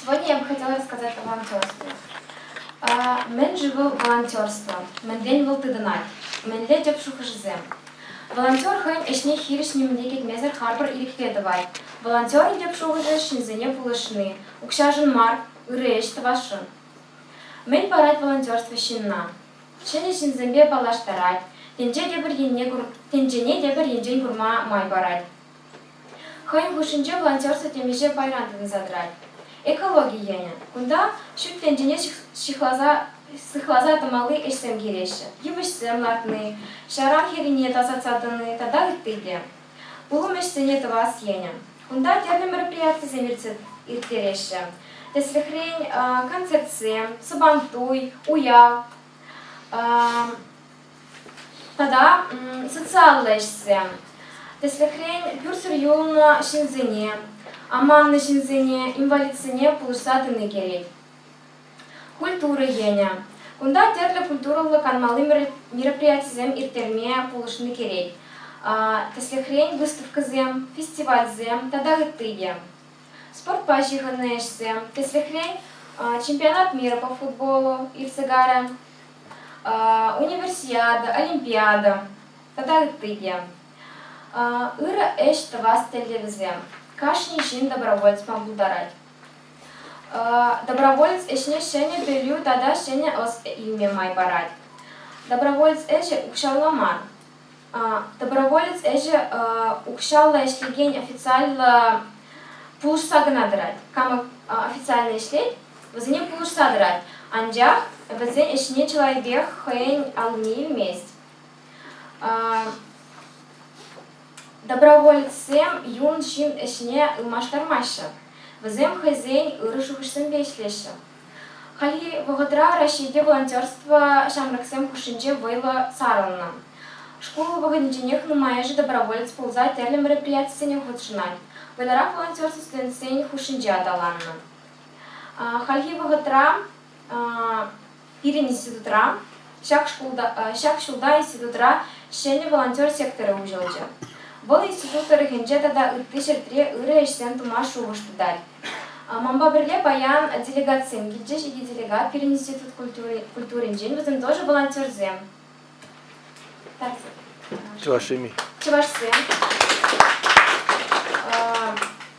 Сегодня я бы хотела рассказать о волонтерстве. Мӗн-ши вӑл волонтерство? Мӗнрен вӑл тытӑнать? Мӗнле тӗп шухӑшӗсем? Волонтер хӑйӗн ӗҫне хирӗҫ нимӗне кӗтмесӗр харпӑр ирӗкпе тӑвать. Волонтерӑн тӗп шухӑшӗ ҫынсене пулӑшни, укҫашӑн мар, ырӑ ӗҫ тӑвасшӑн. Мӗн парать волонтерство ҫынна? Ҫӗнӗ ҫынсемпе паллаштарать, тӗнче те пӗр енне кур, тӗнчене те пӗр енчен курма май парать. Хӑйӗн хушшинче волонтерство темиҫе пайран тытӑнса тӑрать. Экологи енӗ. Кунта ҫут тӗнчене сыхласа тӑмалли ӗҫсем килеҫҫӗ. Йывӑҫсем лартни, ҫаран хӗррине тасатса тӑни тата ытти те. Пулӑм ӗҫсене тӑвас енӗ. Кунта тӗрлӗ мероприятисем ирттереҫҫӗ. Тӗслӗхрен, концертсем, Сабантуй, уяв, тата социаллӑ ӗҫсем. Тӗслӗхрен, пӳрсӗр юлнӑ ҫынсене, аманнӑ ҫынсене, инвалидсене пулӑшса тӑни кӗрет. Культура енӗ. Кунта тӗрлӗ культурӑллӑ канмалли мероприятисем ирттерме пулӑшни кӗрет. Тӗслӗхрен, выставкӑсем, фестивальсем тата ытти те. Спортпа ҫыхӑннӑ ӗҫсем. Тӗслӗхрен, чемпионат мира по футболу иртсе кайрӗ. универсиада, олимпиада тата ытти те. Ырӑ ӗҫ тӑвас тӗллевӗсем кашни ҫын доброволецпа пултарать. Доброволец ӗҫне ҫӗнӗ пӗлӳ тата ҫӗнӗ ӑс илме май парать. Доброволец ӗҫӗ укҫалла мар, Доброволец ӗҫӗ укҫаллӑ ӗҫлекен официаллӑ пулӑшса кӑна тӑрать. Кама официально ӗҫлет, вӗсене пулӑшса тӑрать. Анчах вӗсен ӗҫне чылайпех хӑйӗн аллине илмест. Доброволецсем юн ҫын ӗҫне ылмаштармаҫҫӗ. Вӗсем хӑйсен ырӑ шухӑшсемпе ӗҫлеҫҫӗ. Хальхи вӑхӑтра Раҫҫейте волонтерство ҫамрӑксем хушшинче вӑйлӑ сарӑлнӑ. Шкул вӑхӑтӗнченех нумайӑшӗ доброволец пулса тӗрлӗ мероприятисене хутшӑнать, вӑйлӑрах волонтерство студентсен хушшинче аталаннӑ. Хальхи вӑхӑтра пирӗн институтра Ҫак ҫулта институтра ҫӗнӗ волонтер секторӗ уҫӑлчӗ. Вӑл институт тӑрӑхӗнче тата ытти ҫӗртре ырӑ ӗҫсем тума шухӑш тытать. Манпа пӗрле паян делегатсем килчӗҫ. Икӗ делегат пирӗн институт культуринчен, вӗсем тоже волонтерсем. Чӑвашсем-и? Чӑвашсем.